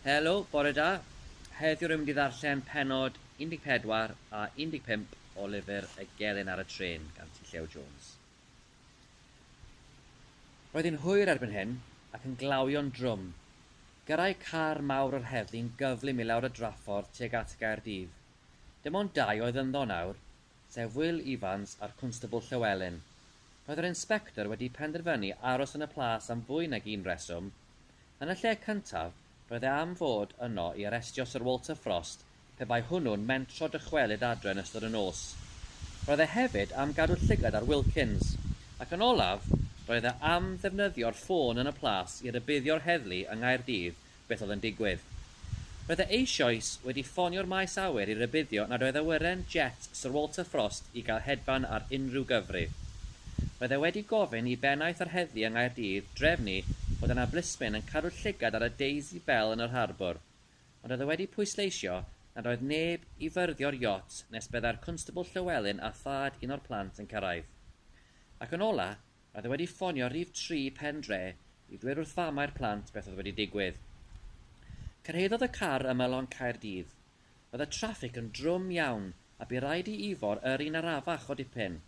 Helo, bore da. Heddiw rwy'n mynd i ddarllen pennod 14 a 15 o lyfr Y Gelyn ar y Trên gan T. Llew Jones. Roedd hi'n hwyr erbyn hyn, ac yn glawio'n drwm. Gyrrai car mawr yr heddlu'n gyflym i lawr y draffordd tuag at Gaerdydd. Dim ond dau oedd ynddo nawr, sef Wil Ifans a'r Cwnstabl Llewelyn. Roedd yr Inspector wedi penderfynu aros yn y Plas am fwy nag un rheswm. Yn y lle cyntaf, roedd e am fod yno i arestio Syr Walter Frost pe bai hwnnw'n mentro dychwelyd adre yn ystod y nos. Roedd e hefyd am gadw llygad ar Wilkins. Ac yn olaf, roedd e am ddefnyddio'r ffôn yn y Plas i rybuddio'r heddlu yng Nghaerdydd beth oedd yn digwydd. Roedd e eisoes wedi ffonio'r maes awyr i rybuddio nad oedd awyren jet Sir Walter Frost i gael hedfan ar unrhyw gyfrif. Roedd e wedi gofyn i bennaeth yr heddlu yng Nghaerdydd drefnu bod yna blismyn yn cadw llygad ar y Daisy Belle yn yr harbwr, ond oedd e wedi pwysleisio nad oedd neb i fyrddio'r iot nes byddai'r Cwnstabl Llywelyn a thad un o'r plant yn cyrraedd. Ac yn ola', Roedd e wedi ffonio rhif tri Pen Dre i ddweud wrth famau'r plant beth oedd wedi digwydd. Cyrhaeddodd y car ymylon Caerdydd. Roedd y traffig yn drwm iawn a bu raid i Ifor yrru yn arafach o dipyn.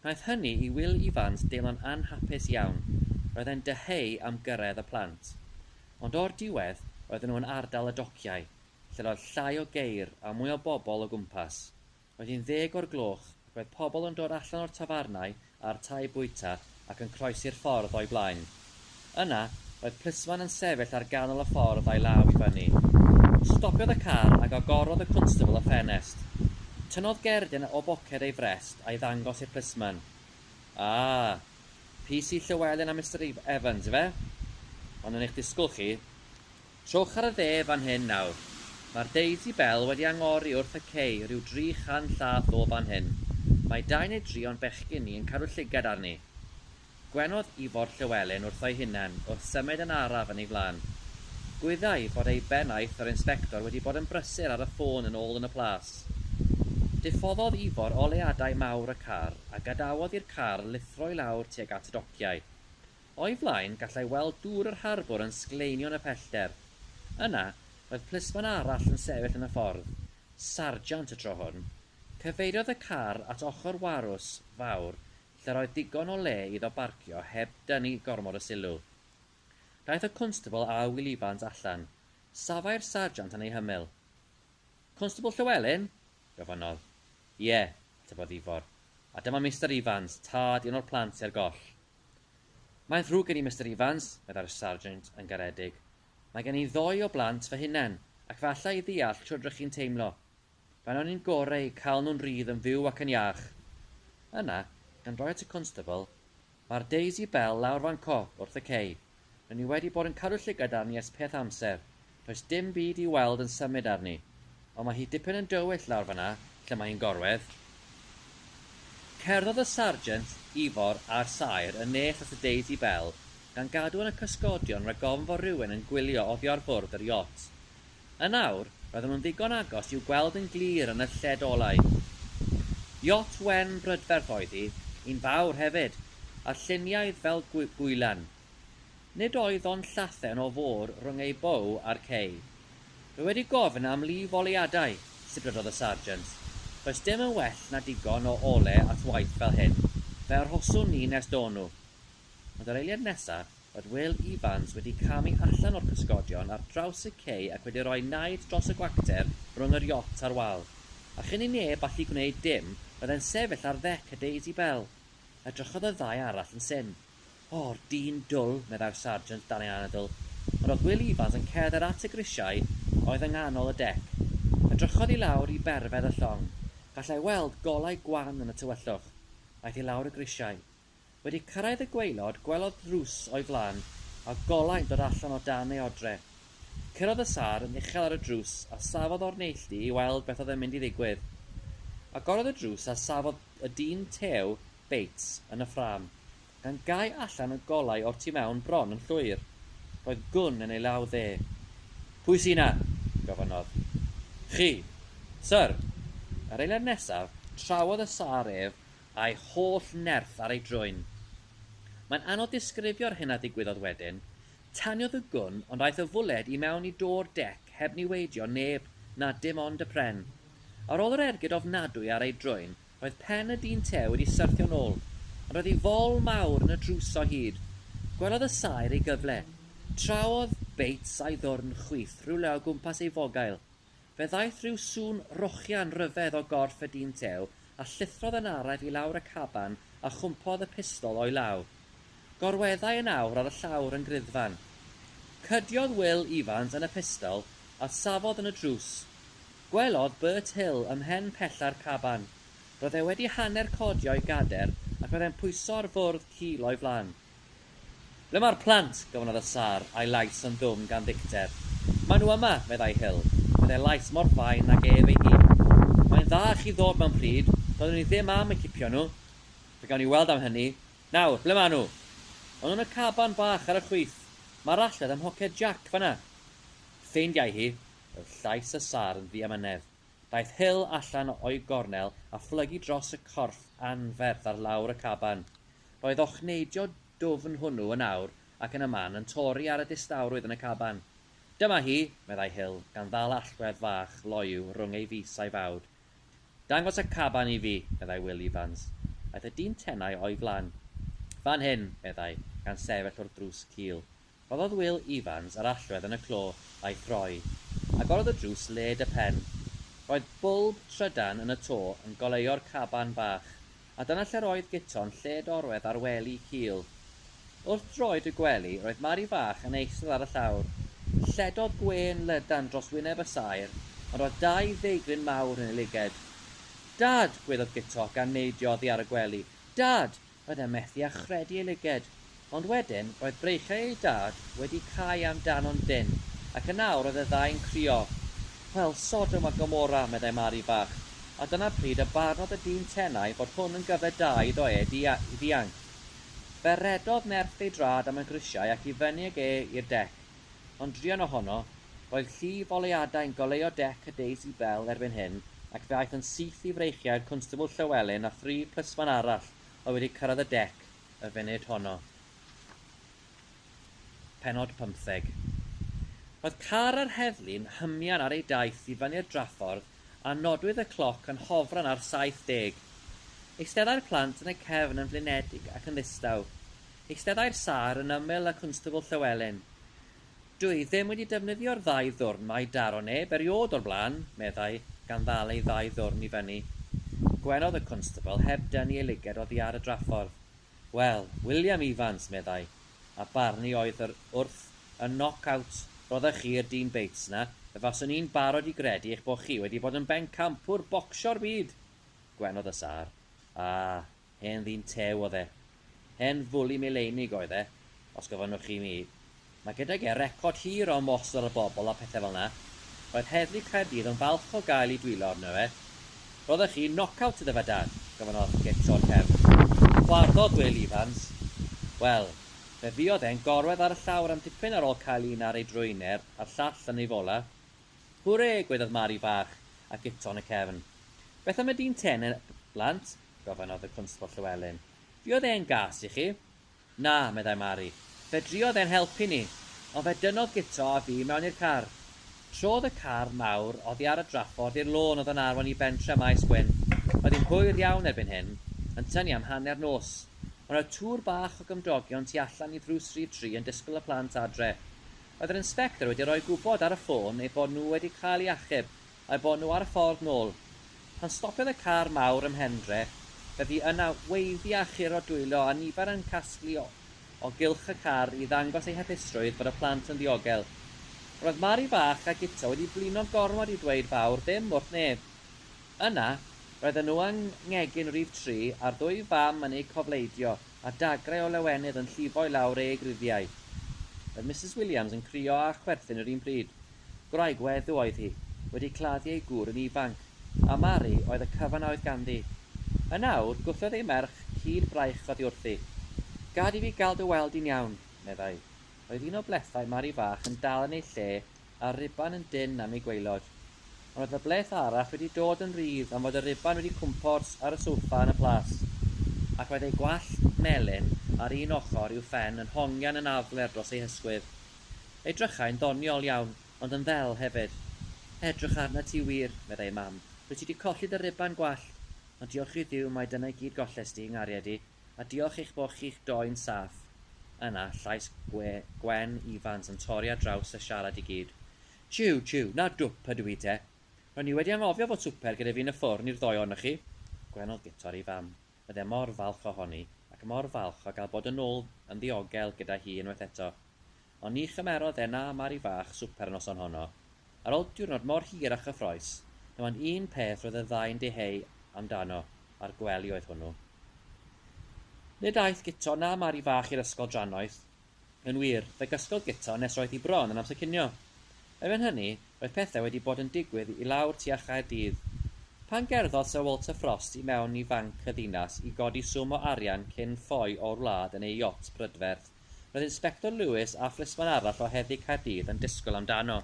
Gwnaeth hynny i Wil Ifans deimlo'n anhapus iawn, roedd e'n dyheu am gyrraedd y plant. Ond o'r diwedd, roedden nhw yn ardal y dociau, lle roedd llai o geir a mwy o bobl o gwmpas. Roedd hi'n ddeg o'r gloch ac roedd pobl yn dod allan o'r tafarnau a'r tai bwyta ac yn croesi'r ffordd o'i blaen. Yna, roedd plismon yn sefyll ar ganol y ffordd a'i law i fyny. Stopiodd y car ac agorodd y cwnstabl y ffenest. Tynnodd gerdyn o boced ei frest a'i ddangos i'r plismon. Ah! PC Llewelyn a Mister Evans, ife? Ond yn eich disgwyl chi, Trowch ar y dde fan hyn nawr. Mae'r Daisy Bell wedi angori wrth y cei ryw dri chan llath o fan hyn. Mae dau neu dri o'n bechgyn ni yn cadw llygad arni. Gwenodd Ifor Llywelyn wrtho'i hunan wrth symud yn araf yn ei flan. Gwyddai fod ei bennaeth yr Inspector wedi bod yn brysur ar y ffôn yn ôl yn y plas. Diffoddodd Ifor oleadau mawr y car a gadawodd i'r car lithro i lawr tuag at y dociau. O'i flaen, gallai weld dŵr yr harbwr yn sgleinio yn y pellter. Yna, roedd plismon arall yn sefyll yn y ffordd, sarjant y tro hwn. Cyfeiriodd y car at ochr warws fawr lle'r oedd digon o le iddo barcio heb dynnu gormod o sylw. Daeth y cwnstabl â Wil Ifans allan. Safai'r sarjant yn ei hymyl. Cwnstabl Llywelyn? gofynnodd. Ie, atebodd Ifor. A dyma Mister Ifans, tad un o'r plant sy ar goll. Mae'n ddrwg gen i Mister Evans, meddai'r Sarjant yn garedig. Mae gen i ddou o blant fy hunain, ac falla i ddeall shwd r'ych chi'n teimlo. Fain o'n i'n gore eu cael nhw'n rhydd yn fyw ac yn iach. Yna, gan roi at y Constable, Mae'r Daisy Belle lawr fan 'co, wrth y cei. Ry'n ni wedi bod yn cadw llygad arni ers peth amser. Does dim byd i'w weld yn symud arni. Ond mae hi dipyn yn dywyll lawr fan'na lle mae hi'n gorwedd. Cerddodd y Sarjent, Ifor a'r Saer yn nes at y Daisy Bell, gan gadw yn y cysgodion rag ofn fod rhywun yn gwylio oddi ar fwrdd yr iot. Yn awr, roedden nhw'n ddigon agos i'w gweld yn glir yn y lled olau. Iot wen brydferth oedd hi, un fawr hefyd, a lluniaidd fel gwylan. Nid oedd ond llathen o fôr rhwng ei bow a'r cei. Dw i wedi gofyn am lif oleuadau, sibrydodd y sarjant. Does dim yn well na digon o ole at waith fel hyn, fe arhoswn ni nes do nhw. Ond yr eiliad nesaf, roedd Will Evans wedi camu allan o'r cysgodion ar draws y cei ac wedi rhoi naid dros y gwacter rhwng yr iot a'r wal. A chyn i neb allu gwneud dim, roedd e'n sefyll ar ddec y Daisy Belle. Edrychodd y ddau arall yn syn. O'r dyn dwl, meddai'r sarjant dan ei anadl. Ond roedd Will Evans yn cerdded at y grisiau a oedd yng nghanol y dec. Edrychodd i lawr i berfedd y llong. Gallai weld golau gwan yn y tywyllwch. Aeth i lawr y grisiau. Wedi cyrraedd y gwaelod, gwelodd ddrws o'i flan a golau'n dod allan o dan ei odre. Curodd y sâr yn uchel ar y drws a safodd o'r neilltu i weld beth oedd yn mynd i ddigwydd. Agorodd y drws a safodd y dyn tew, Bates, yn y ffrâm, gan gau allan y golau o'r tu mewn bron yn llwyr. Roedd gwn yn ei law dde. Pwy sy 'na? gofynnodd. Chi, syr! Yr eiliad nesaf, trawodd y sâr ef a'i holl nerth ar ei drwyn. Mae'n anodd disgrifio'r hyn a ddigwyddodd wedyn. Taniodd y gwn ond aeth y fwled i mewn i do'r dec heb niweidio neb na dim ond y pren. Ar ôl yr ergyd ofnadwy ar ei drwyn roedd pen y dyn te wedi syrthio'n ôl ond roedd ei fol mawr yn y drws o hyd. Gwelodd y saer ei gyfle. Traodd Bates a'i ddwrn chwith rhywle o gwmpas ei fogail. Fe ddaeth ryw sŵn rochian ryfedd o gorff y dyn tew a llithrodd yn araith i lawr y caban a chwmpodd y pistol o'i law. Gorweddai yn awr ar y llawr yn griddfan. Cydiodd Wil Ifans yn y pistol a safodd yn y drws. Gwelodd Bert Hill ym mhen pella'r caban. Roedd e wedi hanner codio i gader ac roedd e'n pwyso ar fwrdd cul o'i flan. Ble mae'r plant? gofynnodd y sâr, a'i lais yn ddwfn gan ddicter. Maen nhw yma, meddai Hull, meddai lais mor fain nag ef ei hun. Mae'n dda i chi ddod mewn pryd, doeddwn i ddim am eu cipio nhw. Fe gawn ni weld am hynny. Nawr, ble maen nhw? Maen nhw yn y caban bach ar y chwith. Mae'r allwedd ym mhoced Jac, fan'na. Ffeindiai hi! Roedd llais y sâr yn ddiamynedd. Daeth Hull allan o'i gornel a phlygu dros y corff anferth ar lawr y caban. Roedd ochneidio dwfn hwnnw yn awr ac yn y man yn torri ar y distawrwydd yn y caban. Dyma hi! meddai Hill, gan ddal allwedd fach loyw rhwng ei fys a'i fawd. Dangos y caban i fi! meddai Wil Ifans. Aeth y dyn tenau o'i flan. Fan hyn! meddai, gan sefyll wrth ddrws cul. Rhoddodd Wil Evans yr allwedd yn y clo a'i throi. Agorodd y drws led y pen. Roedd bwlb trydan yn y to yn goleuo'r caban bach, a dyna lle'r oedd Guto'n lled-orwedd ar wely cul. Wrth droed y gwely roedd Mari fach yn eistedd ar y llawr. Lledodd gwên lydan dros wyneb y saer, ond roedd dau ddeigryn mawr yn ei lyged. Dad! gweiddodd Guto gan neidio oddi ar y gwely. Dad! Oedd e methu â chredu ei lyged, ond wedyn roedd breichiau ei dad wedi cau am dano'n dynn ac yn awr oedd y ddau'n crio. Wel, Sodom a Gomora, meddai Mari fach, a dyna pryd y barnodd y dyn tenau fod hwn yn gyfle da iddo e i ddianc. Fe redodd nerth ei draed am y grisiau ac i fyny ag e i'r dec, Ond druan ohono, roedd llif oleuadau'n goleuo dec y Daisy Belle erbyn hyn ac fe aeth yn syth i freichiau i'r Constable Llewelyn a thri plismon arall oedd wedi cyrraedd y dec y funud honno. Pennod pymtheg. Roedd car yr heddlu'n hymian ar ei daith i fyny'r draffordd a nodwyd y cloc yn hofran ar 70. Eisteddai'r plant yn y cefn yn flinedig ac yn ddistaw. Eisteddai'r sâr yn ymyl y Cwnstabl Llywelyn. Dw i ddim wedi defnyddio'r ddau ddwrn 'ma i daro neb eriôd o'r blaen, meddai, gan ddal ei ddau ddwrn i fyny. Gwenodd y Cwnstabl heb dynnu ei luged oddi ar y draffordd. Wel, William Evans, meddai, a barnu oedd yr wrth y knock out roddech chi y Dean Bates 'na, fe faswn i'n barod i gredu eich bod chi wedi bod yn bencampwr bocsio'r byd! Gwenodd y sâr. Ah, Hen ddyn tew oedd e. Hen fwli mileinig oedd e, os gofynnwch chi mi. Mae gydag e record hir o ymosod ar bobl a phethau fel 'na. Roedd Heddlu Caerdydd yn falch o gael eu dwyllo arno fe. Roeddech chi'n knock-out iddo fe, Dad? gofynnodd Kit o'r cefn. Chwarddodd Wil Ifans. Wel, fe fuodd e'n gorwedd ar y llawr am dipyn ar ôl cael un ar ei drwyner a'r llall yn ei fola. Hwrê! gwaeddodd Mari fach a Kit on y cefn. Beth am y dyn tene, blant? gofynnodd y Cwnsbl Llywelyn. Fuodd e yn gas i chi? Na, meddai Mari. Fe druodd e'n helpu ni, ond fe dynnodd Guto a fi mewn i'r car. Trodd y car mawr oddi ar y draffordd i'r lôn oedd yn arwain i bentre Maes Gwyn. Oedd hi'n hwyr iawn erbyn hyn, yn tynnu am hanner nos. Ond oedd twr bach o gymdogion tu allan i ddrws rhif tri yn disgwyl y plant adre. Oedd yr inspector wedi rhoi gwybod ar y ffôn eu bod nhw wedi cael eu achub Mae bod nhw ar y ffordd nôl. Pan stopiodd y car mawr ym Mhendre, fe fu yna weiddi a chur o dwyllo a nifer yn casglu o o gylch y car i ddangos eu hapusrwydd bod y plant yn ddiogel. Roedd Mari fach a Guto wedi blino gormod i ddweud fawr ddim wrth neb. Yna, roedden nhw yng nghegin rhif tri a'r ddwy fam yn eu cofleidio a dagrau o lawenydd yn llifo i lawr eu gruddiau. Roedd Misus Williams yn crio a chwerthin yr un pryd. Gwraig weddw oedd hi, wedi claddu ei gŵr yn ifanc, a Mari oedd y cyfan a oedd ganddi. Yn awr, gwthiodd ei merch cyd braich oddi wrthi. Gad i fi gael dy weld di'n iawn, meddai. Roedd un o blethau Mari fach yn dal yn ei lle a'r ruban yn dynn am ei gwaelod. Ond oedd y bleth arall wedi dod yn rhydd am fod y ruban wedi cwmpors ar y soffa yn y plas, ac oedd ei gwallt melyn ar un ochr i'w phen yn hongian yn afler dros ei hysgwydd. Edrychai'n ddoniol iawn, ond yn ddel hefyd. Edrych arnat ti wir, meddai ei mam, rwyt ti 'di colli dy ruban gwallt, ond diolch i Dduw mai dyna i gyd gollest ti, 'nghariad i, a diolch eich bod chi'ch doi'n saff. Yna, llais gwe, Gwen Ifans yn torri ar draws y siarad i gyd. Jiw, jiw, 'na dwp ydw i te. Ro'n i wedi anghofio fod swper gyda fi yn y ffwrn i'r ddou ohonoch chi. Gwenodd Guto'r ei fam. Oedd e mor falch ohoni, ac mor falch o gael bod yn ôl yn ddiogel gyda hi unwaith eto. Ond ni chymerodd e na Mari fach swper y noson honno. Ar ol diwrnod mor hir a chyffrous, dim ond un peth roedd y ddau'n diheu amdano, a'r gwely oedd hwnnw. Nid aeth Guto na Mari fach i'r ysgol drannoeth, Yn wir, fe gysgodd Guto nes roedd hi bron yn amser cinio. Erbyn hynny, roedd pethau wedi bod yn digwydd i lawr tua Chaerdydd. Pan gerddodd Syr Walter Frost i mewn i Fanc y Ddinas i godi swm o arian cyn ffoi o'r wlad yn ei iot brydferth, roedd Inspector Lewis a phlismon arall o Heddlu Caerdydd yn disgwyl amdano.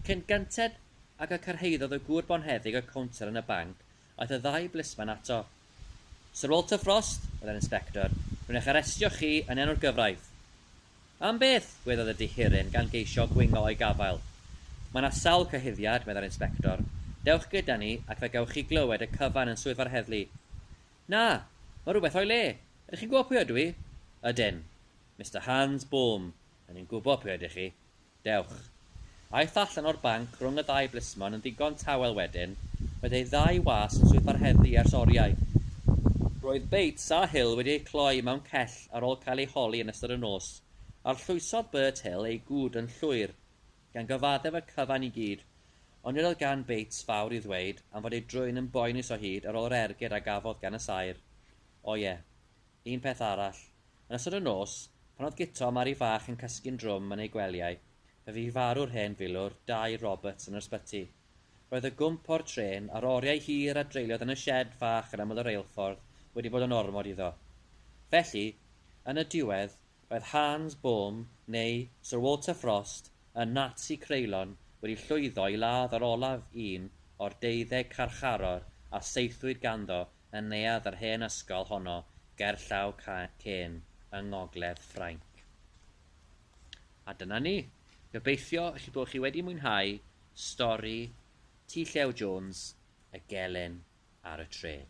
Cyn gynted ag y cyrhaeddodd y gŵr bonheddig y cownter yn y banc, Aeth y ddau blisman ato. Syr Walter Frost, oedd yr inspector, rwy'n eich arestio chi yn enw'r gyfraith. Am beth? gweddiodd y dihiryn gan geisio gwingo o'i gafael. Mae yna sawl cyhuddiad, meddai'r inspector. Dewch gyda ni ac fe gewch chi glywed y cyfan yn swyddfa'r heddlu. Na! Mae rhywbeth o'i le! Ydych chi'n gwybod pwy ydw i? Ydyn. Mister Hans Boom, rŷn ni'n gwybod pwy ydych chi. Dewch. Aeth allan o'r banc rhwng y ddau blismon yn ddigon tawel wedyn, roedd ei ddau was yn swytho'r heddlu ers oriau. Roedd Bates a Hill wedi eu cloi mewn cell ar ôl cael eu holi yn ystod y nos. Arllwysodd Bert Hill ei gŵd yn llwyr, gan gyfaddef y cyfan i gyd, ond nid oedd gan Bates fawr i ddweud am fod ei drwyn yn boenus o hyd ar ôl yr ergyd a gafodd gan y saer. O ie. Un peth arall. Yn ystod y nos, pan oedd Guto a Mari Fach yn cysgu'n drwm yn eu gwelyau, fe fu farw'r hen filwr, Dai Roberts, yn yr ysbyty. Roedd y gwmp o'r trên, a'r oriau hir a dreuliodd yn y sied fach yn ymyl y reilffordd, wedi bod yn ormod iddo. Felly, yn y diwedd, roedd Hans Bohm, neu Sir Walter Frost, y Nazi creulon, wedi llwyddo i ladd yr olaf un o'r deuddeg carcharor a saethwyd ganddo yn neuadd yr hen ysgol honno gerllaw Caen yng ngogledd Ffrainc. A dyna ni. Gobeithio chi bod chi wedi mwynhau stori Tŷ Llew Jones, y gelyn ar y trên.